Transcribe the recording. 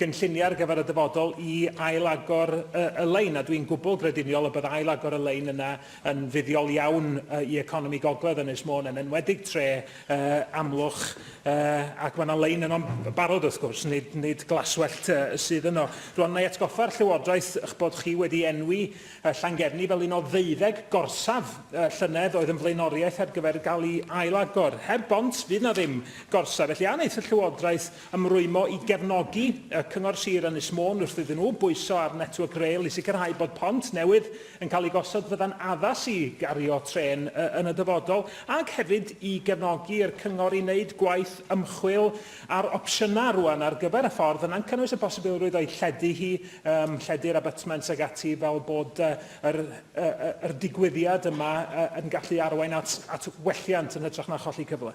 gynlluniau ar gyfer y dyfodol i ail-agor y lein, a dwi'n gwbl grediniol y bydd ail-agor y lein yna yn fuddiol iawn i economi gogledd Ynys Môn, yn enwedig tre Amlwch, ac mae yna lein yno'n barod wrth gwrs, nid, nid glaswellt sydd yno. Rwan, na i atgoffa'r Llywodraeth eich bod chi wedi enwi Llangefni fel un o ddeuddeg gorsaf llynedd oedd yn flaenoriaeth ar gyfer gael ei ail-agor. Heb bont, fydd na ddim gorsaf, felly a wneith y Llywodraeth Ymrwymo i gefnogi y Cyngor Sir Ynys Môn wrth iddyn nhw bwyso ar Network Rail i sicrhau bod pont newydd yn cael ei gosod fydda'n addas i gario trên yn y dyfodol ac hefyd i gefnogi i'r Cyngor i wneud gwaith ymchwil ar opsiynau rwan ar gyfer y ffordd yna'n cynnwys y posibilrwydd o'i lledu hi, yym, lledu'r abutments ag ati fel bod yy yr, yy, yr digwyddiad yma yy, yn gallu arwain at, at welliant yn hytrach na cholli cyfle.